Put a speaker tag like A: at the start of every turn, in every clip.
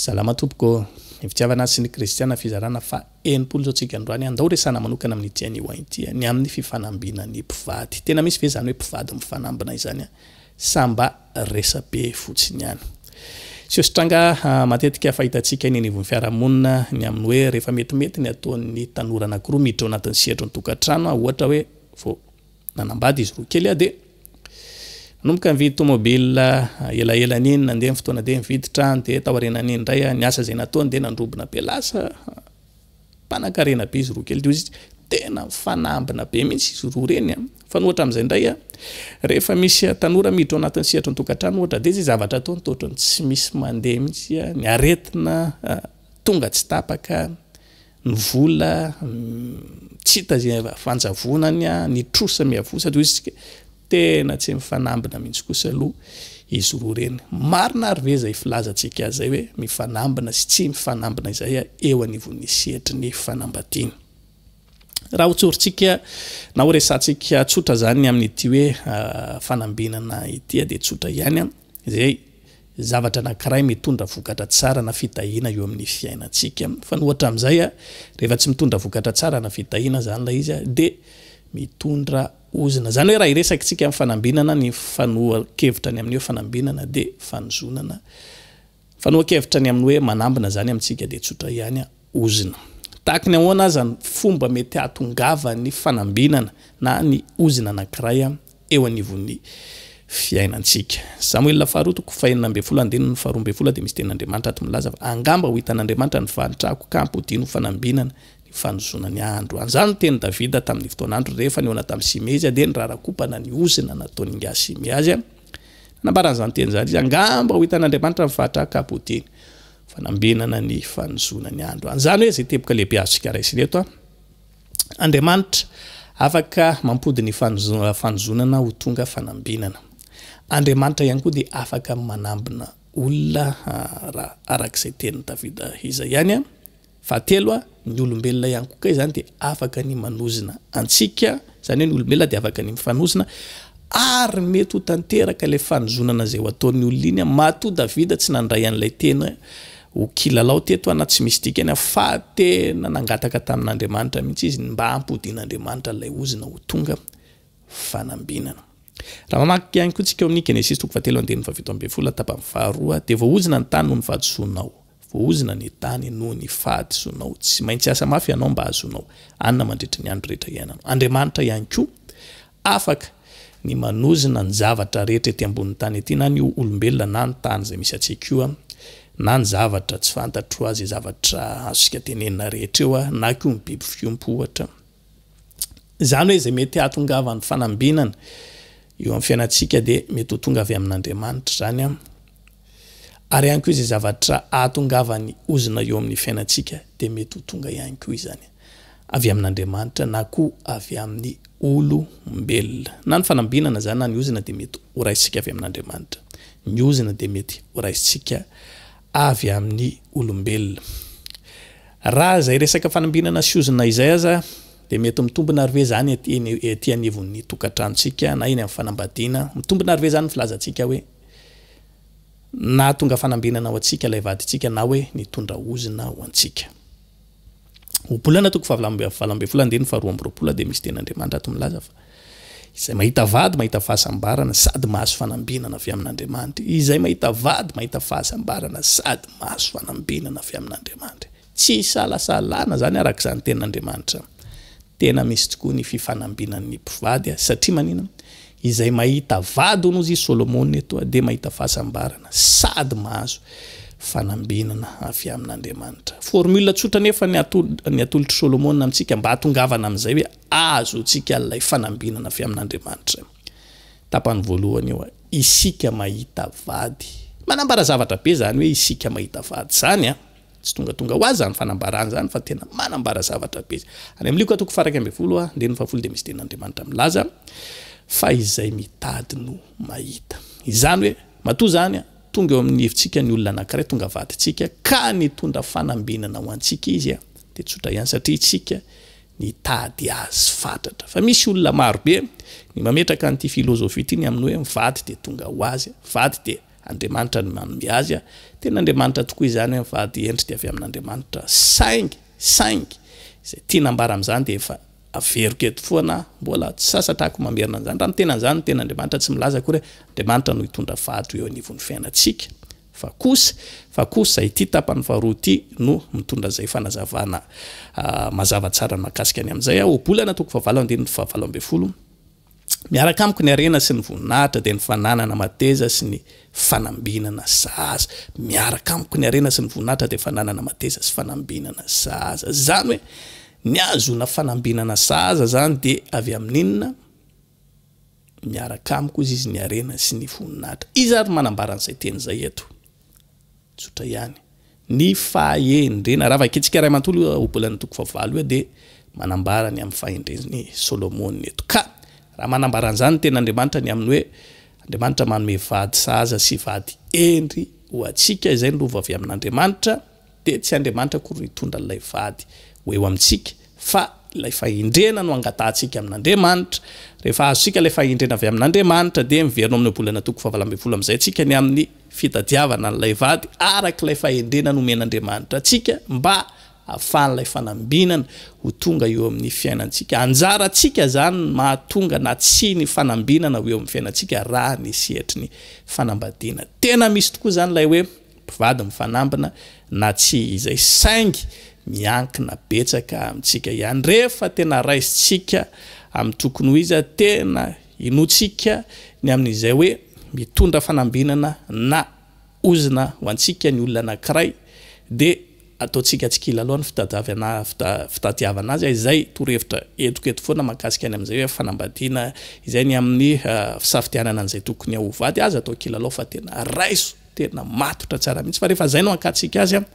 A: Salama tompoko ô! Ny fitiavana sy ny kristiana fizarana faha enimpolo izao tsika androany a! Ndao resahana manokana amin'ity anio ity ny amin'ny fifanambina ny mpivady. Tena misy ve izany hoe mpivady mifanambina izany a? Sa mba resabe fotsiny ihany? Seho-sy-tranga matetika fahitantsika eny anivon'ny fiarahamonina ny amin'ny hoe rehefa metimety ny ataon'ny tanora anankiroa miditra ao anatin'ny sehatry ny tokantrano a, ohatra hoe vao nanambady izy roa kely a dia. Nanomboka nividy tomobilina elaela an'iny, nandeha ny fotoana dia nividy trano dia taorianan'iny indray ny asa izay nataony dia nandrobona be lasa mpanankarena be izy roa kely teo izy tena mifanambina be mihitsy izy roa ireny an fa ny ohatra amin'izay indray an rehefa misy tanora miditra ao anatin'ny sehatry ny tokantrano ohatra dia izay zavatra ataony toa ohatran'ny tsy misy mandeha mihitsy ny aretina tonga tsy tapaka ny vola tsy hita ze fanjavonany a ny trosa miavosa de ozy tsika tena tsy mifanambina mihitsy kosa aloha izy roa reny marina ary ve zay filazantsika azy zay hoe mifanambina sy tsy mifanambina izay a eo anivon'ny sehatry ny fanambadiana raha hotsorintsika na ho resantsika tsotra zany amin'ity hoe fanambinana ity a de tsotra ihany a Dia zavatra anankiray mitondra vokatra tsara na fitahiana eo amin'ny fiainantsika. Fa ny ohatra amin'izay, rehefa tsy mitondra vokatra tsara na fitahiana izany ilay izy dia mitondra ozona. Izany hoe raha hiresakintsika amin'ny fanambinana, ny fanohan-kevitra ny amin'ny hoe fanambinana dia fanozonana. Fanohan-kevitra ny amin'ny hoe manambina izany amintsika dia tsotra ihany. ozona. Tahaka ny ahoana aza ny fomba mety hahatongavan'ny fanambinana na ny ozona anankiray eo anivon'ny fiainantsika. Samoela faharoa toko fahenina ambin'ny folo andininy faharoa ambin'ny folo dia misy tenin'Andriamanitra ato milaza fa angamba ho hitan'Andriamanitra ny fahantrako ka hampodiany ho fanambinana ny fanozona ny andro. Anzany ny tenin'i Davida tamin'ny fotoan'androny rehefa nihaona tamin'i Simey izy dia nirarakompana ny ozona nataon'ingahy Simey azy. Nanambara an'izany teny izany izy, angamba ho hitan'Andriamanitra ny fahantrako ka hampodiany Fanambenana ny fanozona ny andro. An'izany hoe izay teboka lehibe azontsika raisina eto. Andriamanitra afaka mampody ny fanozonana ho tonga fanambenana. Andriamanitra ihany koa dia afaka manambina olona, araka izay tenin'i Davida izay ihany. Fahatelo, ny olombelona ihany koa kay zany dia afaka ny manozona antsika, zany hoe ny olombelona dia afaka ny mifanozona, ary mety ho tanteraka ilay fanozonana izay ho ataon'ny olona iny, matoa Davida tsy nandray an'ilay teny ho kilalao teto na tsy misy dikany fa tena nangataka tamin'Andriamanitra mihitsy izy ny mba hampodian'Andriamanitra ilay ozona ho tonga fanambinana. Raha mamaky ihany koa tsika ao amin'ny Genesisy toko fahatelo andininy fahafito ambin'ny folo tapany faharoa dia voaozona ny tany noho ny fahadisoanao. Voahozona ny tany noho ny fahadisonao. Tsy maintsy hiasa mafy ianao mba hahazoanao hanina mandritra ny andro rehetra iainanao. Andriamanitra ihany koa afaka ny manozona ny zavatra rehetra ety ambonin'ny tany ety, na ny olombelona, na ny tany izay misy antsika io, na ny zavatra tsy fantatro, izay zavatra azontsika tenenina rehetra eo, na koa ny biby fiompy, ohatra. Izany hoe izay mety hahatongavan'ny fanambinana eo amin'ny fiainantsika dia mety ho tonga avy amin'Andriamanitra izany, ary ihany koa izay zavatra hahatongavan'ny ozona eo amin'ny fiainantsika dia mety ho tonga ihany koa izany avy amin'Andriamanitra na koa avy amin'ny olombelona. Na ny fanambinana izany na ny ozona dia mety horaisintsika avy amin'Andriamanitra. Ny ozona dia mety horaisintsika avy amin'ny olombelona. Raha izay resaka fanambinana sy ozona izay aza dia mety mitombina ary ve izany ety anivon'ny tokantranontsika na eny amin'ny fanambadiana? Mitombina ary ve izany ny filazantsika hoe nahatonga fanambinana ho antsika ilay vadintsika na hoe nitondra ozona ho antsika? Ohabolana toko fahavalo amby valo ambin'ny folo andininy faharoa amby roapolo dia misy tenin'Andriamanitra ato milaza fa izay mahita vady mahita fahasambarana sady mahazo fanambinana avy amin'Andriamanitra. Izay mahita vady mahita fahasambarana sady mahazo fanambinana avy amin'Andriamanitra. Tsy isalasalana izany araka izany tenin'Andriamanitra. Tena misy tokoa ny fifanambinan'ny mpivady satria manina Izay mahita vady hono hozy Solomona eto dia mahita fahasambarana sady mahazo fanambinana avy amin'Andriamanitra. Formule tsotra anefa ny atolotr'i Solomona amintsika mba hatongavana amin'izay hoe azontsika ilay fanambinana avy amin'Andriamanitra. Tapany voalohany eo, isika mahita vady. Manambara zavatra be izany hoe isika mahita vady izany. Tsy tongatonga ho azy zany fanambarana zany fa tena manambara zavatra be. Any amin'ny Lioka toko faharaika ambin'ny folo andininy fahafolo dia misy tenin'Andriamanitra milaza fa izay mitady no mahita. Izany hoe matoa zany tonga eo amin'ny hevitsika ny olona anankiray, tonga vadintsika ka nitondra fanambinana ho antsika izy dia tsotra ihany satria isika nitady azy fatratra. Fa misy olona marobe ny mametraka an'ity filozofia ity ny amin'ny hoe vady dia tonga ho azy, vady dia Andriamanitra no manome azy, tena Andriamanitra tokoa izany an, fa dia endrika avy amin'Andriamanitra, saingy, saingy, izay tiana ambara amin'izany dia efa averiko eto foana aho, mbola tsy sasatrako mamerina an'izany, raha ny tena an'izany ny ten'Andriamanitra tsy milaza akory hoe Andriamanitra no hitondra fady eo anivon'ny fiainantsika, fa kosa, fa kosa ity tapany faharoa ity no mitondra izay fanazavana mazava tsara mahakasika ny amin'izay, ohabolana toko fahavalo andininy fahavalo ambin'ny folo, Miaraka amiko ny harena sy ny voninahitra dia ny fananana mateza sy ny fanambinana zaza. Miaraka amiko ny harena sy ny voninahitra dia fananana mateza sy fanambinana zaza. Izany hoe ny hahazoana fanambinana zaza izany dia avy amin'inona? Miaraka amiko hozy izy ny harena sy ny voninahitra. Iza ary no manambara an'izay teny izay eto? Tsotra ihany. Ny fahendrena. Raha vakintsika iray manontolo io ohabolan'ny toko fahavalo io dia manambara ny amin'ny fahendren'i Solomona eto. Ka raha manambara an'izany ny tenin'Andriamanitra ny amin'ny hoe Andriamanitra manome vady sahaza sy vady hendry ho antsika, izay no lova avy amin'Andriamanitra, dia tsy Andriamanitra akory no hitondra an'ilay vady ho eo amintsika fa ilay fahendrena no angatahantsika amin'Andriamanitra, rehefa azontsika ilay fahendrena avy amin'Andriamanitra dia miverina amin'ny ohabolana toko fahavalo ambin'ny folo amin'izay tsika ny amin'ny fitadiavana an'ilay vady araka ilay fahendrena nomen'Andriamanitra antsika mba hahafahan'ilay fanambinana ho tonga eo amin'ny fiainantsika, anjarantsika izany ny mahatonga na tsia ny fanambinana ho eo amin'ny fiainantsika raha ny sehatry ny fanambadiana tena misy tokoa izany ilay hoe mpivady mifanambina na tsia izay saingy miankina betsaka amintsika ihany rehefa tena raisintsika amin'ny tokony ho izy tena inoantsika ny amin'izay hoe mitondra fanambinana na ozona ho antsika ny olona anankiray dia ataontsika tsy kilalao ny fitadiavana azy izay torohevitra entiko eto foana mahakasika ny amin'izay hoe fanambadiana izay ny amin'ny fisafidianana an'izay tokony ho vady aza atao kilalao fa tena raiso Tena matotra tsara mihitsy fa rehefa zay no ankatsika azy an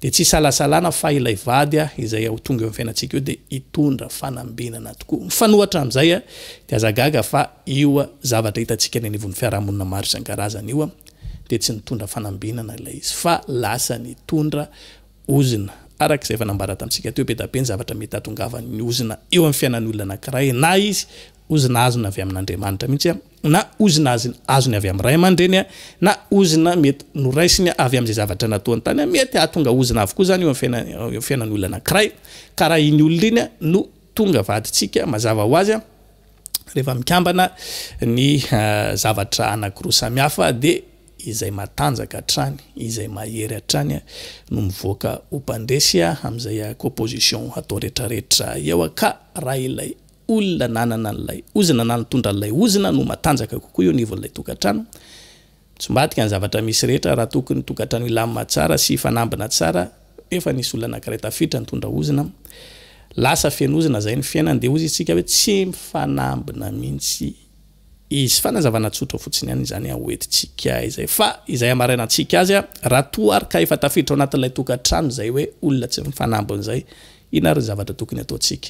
A: dia tsy isalasalana fa ilay vady an izay ho tonga eo amin'ny fiainantsika eo dia hitondra fanambinana tokoa. Mifanohatra amin'izay an dia aza gaga fa io zavatra hitantsika eny anivon'ny fiarahamonina maro isan-karazany io an dia tsy nitondra fanambinana ilay izy fa lasa nitondra ozona. Araka izay efa nambara tamintsika teo be dia be ny zavatra mety hahatongavan'ny ozona eo amin'ny fiainan'ny olona anankiray na izy ozona azony avy amin'Andriamanitra mihitsy an. na ozona azony avy amin'ny ray aman-dreny na ozona mety noraisiny avy amin'izay zavatra nataony tany. Mety hahatonga ozona avokoa izany eo amin'ny fiainan'olona anankiray, ka raha iny olona iny no tonga vadintsika, mazava ho azy rehefa mikambana ny zavatra anankiroa samihafa dia izay matanjaka hatrany, izay mahery hatrany no mivoaka ho mpandresy amin'izay composition atao rehetrarehetra eo, ka raha ilay olona nanana an'ilay ozona na nitondra an'ilay ozona no matanjaka kokoa eo anivon'ilay tokantrano. Tsy mba adika ny zavatra misy rehetra raha toa ny tokantrano hilamina tsara sy hifanambina tsara nefa nisy olona anankiray tafiditra nitondra ozona. Lasa feno ozona izay ny fiainany dia hozy isika hoe tsy mifanambina mihitsy izy. Fanazavana tsotra fotsiny ihany izany ho entintsika izay fa izay hamarainantsika azy raha toa ary ka efa tafiditra ao anatin'ilay tokantrano izay hoe olona tsy mifanambina izay inona ary ny zavatra tokony hataontsika?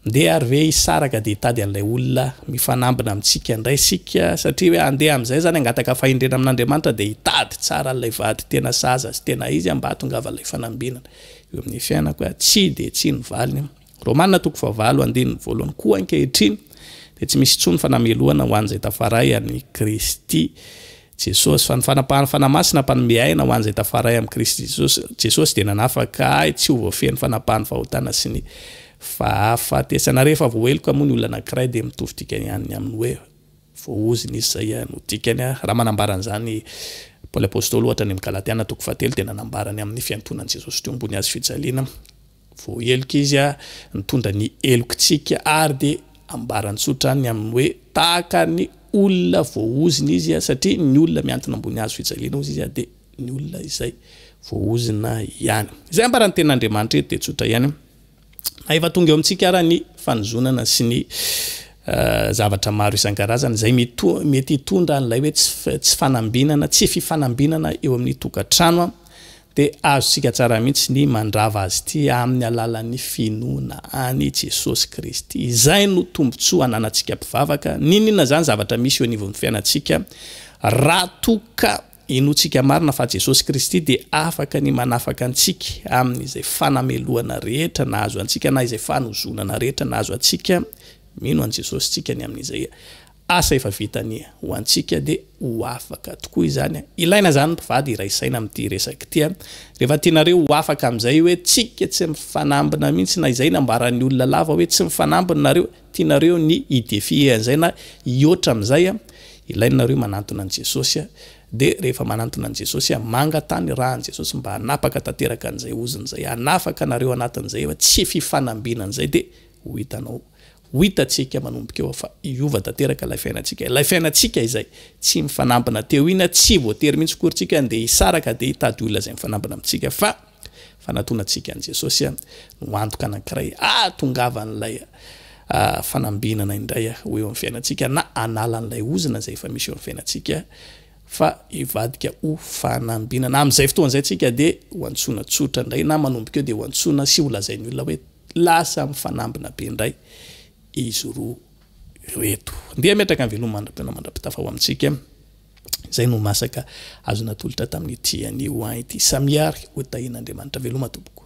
A: Ndeha ary ve hisaraka dia hitady an'ilay olona mifanambina amintsika indray isika? Satria hoe handeha amin'izay izany hangataka fahendrena amin'Andriamanitra dia hitady tsara an'ilay vady tena sahaza sy tena izy mba hahatongava ilay fanambinana eo amin'ny fiainako hoe tsia dia tsia ny valiny. Romana toko fahavalo andininy voalohany Koa ankehitriny dia tsy misy intsony fanamelohana ho an'izay tafaray an'i Kristy Jesosy, fa ny fanapahan'ny Fanahy Masina mpanome aina ho an'izay tafaray amin'i Kristy Jesosy, Jesosy dia nanafaka ahy tsy ho voafehin'ny fanapahan'ny fahotana sy ny fahafatesana. Rehefa voaheloka moa ny olona anankiray dia mitovy dikany ihany ny amin'ny hoe voahozina izy, izay ihany no dikany raha manambara an'izany i Paoly Apostoly ohatra any amin'ny Galatiana toko fahatelo dia nanambara ny amin'ny fiantonan'i Jesosy teo ambony hazofijaliana Vao heloka izy a, nitondra ny helokitsika ary dia ambarany tsotra any amin'ny hoe tahaka ny olona voahozina izy a, satria ny olona miantona ambony hazo fijaliana hozy izy a, dia ny olona izay voahozina ihany. Izay ambaran'ny tenin'Andriamanitra eto dia tsotra ihany, na efa tonga eo amintsika ara ny fanozonana sy ny zavatra maro isan-karazany izay mety hitondra an'ilay hoe tsy tsy fanambinana, tsy fifanambinana eo amin'ny tokantrano a. Dia azontsika tsara mihitsy ny mandrava azy ity amin'ny alalan'ny finoana an'i Jesosy Kristy. Izay no tombontsoa ananantsika mpivavaka. Niniana izany zavatra misy eo anivon'ny fiainantsika. Raha toa ka inoantsika marina fa Jesosy Kristy dia afaka ny manafaka antsika amin'izay fanamelohana rehetra nahazo antsika na izay fanozonana rehetra nahazo antsika, mino an'i Jesosy isika ny amin'izay. Asa efa vita anie ho antsika dia ho afaka tokoa izany an! Ilaina izany mpivady hiray saina amin'ity resaka ity an! Rehefa tianareo ho afaka amin'izay hoe tsika tsy mifanambina mihitsy na izay nambaran'ny olona lava hoe tsy mifanambina nareo, tianareo ny hi-defier an'izay na hihoatra amin'izay an! Ilaina nareo manantona an'i Jesosy an! Dia rehefa manantona an'i Jesosy an! Mangataha ny rahan'i Jesosy mba hanapaka tanteraka an'izay ozona izay hanafaka anareo anatin'izay hoe tsy fifanambinana izay dia ho hitanao Ho hitantsika manomboka eo fa hiova tanteraka ilay fiainantsika, ilay fiainantsika izay tsy mifanambina teo iny, na tsy voatery mihitsy akory tsika handeha hisaraka dia hitady olona izay mifanambina amintsika fa fanatonantsika an'i Jesosy no ho antoka anankiray hahatongavan'ilay fanambinana indray ho eo amin'ny fiainantsika na hanala an'ilay ozona izay efa misy eo amin'ny fiainantsika fa hivadika ho fanambinana. Amin'izay fotoana izay tsika dia ho antsoina tsotra indray na manomboka eo dia ho antsoina sy holazain'ny olona hoe Lasa mifanambina be indray izy roa ireto. Ndeha hametraka ny veloma mandra-pihaona mandra-pitafa ho amintsika izay no masaka azo natolotra tamin'ity anio ity samiary hotahian'Andriamanitra. Veloma tompoko.